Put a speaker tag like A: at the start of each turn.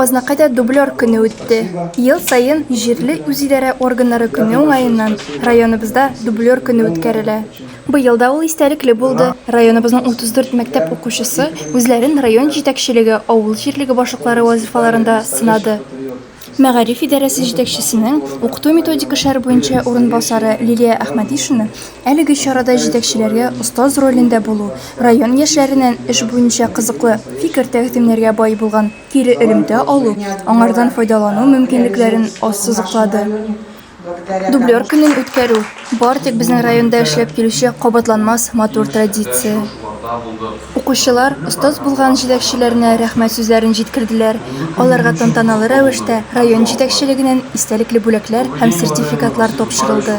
A: Азнакайда дублер көне үтте. Ел саен җирле үзидарә органнары көне уңаеннан районыбызда дублер көне үткәрелә. Быел да ул истәлекле булды. Районыбызның 34 мәктәп укучысы үзләрен район җитәкчелеге, авыл җирлеге башлыклары вазыйфаларында сынады. Мәгариф идарәсе җитәкчесенең укыту-методик эшләр буенча урынбасары Лилия Әхмәдишина әлеге чарада җитәкчеләргә остаз ролендә булу, район яшьләреннән эш буенча кызыклы фикер-тәкъдимнәргә бай булган кире элемтә алу, аңардан файдалану мөмкинлекләрен ассызыклады. Дублер көнен үткәрү бар тик безнең районда эшләп килүче кабатланмас матур традиция. Укучылар остаз булган җитәкчеләренә рәхмәт сүзләрен җиткерделәр, аларга тантаналы рәвештә район җитәкчелегеннән истәлекле бүләкләр һәм сертификатлар тапшырылды.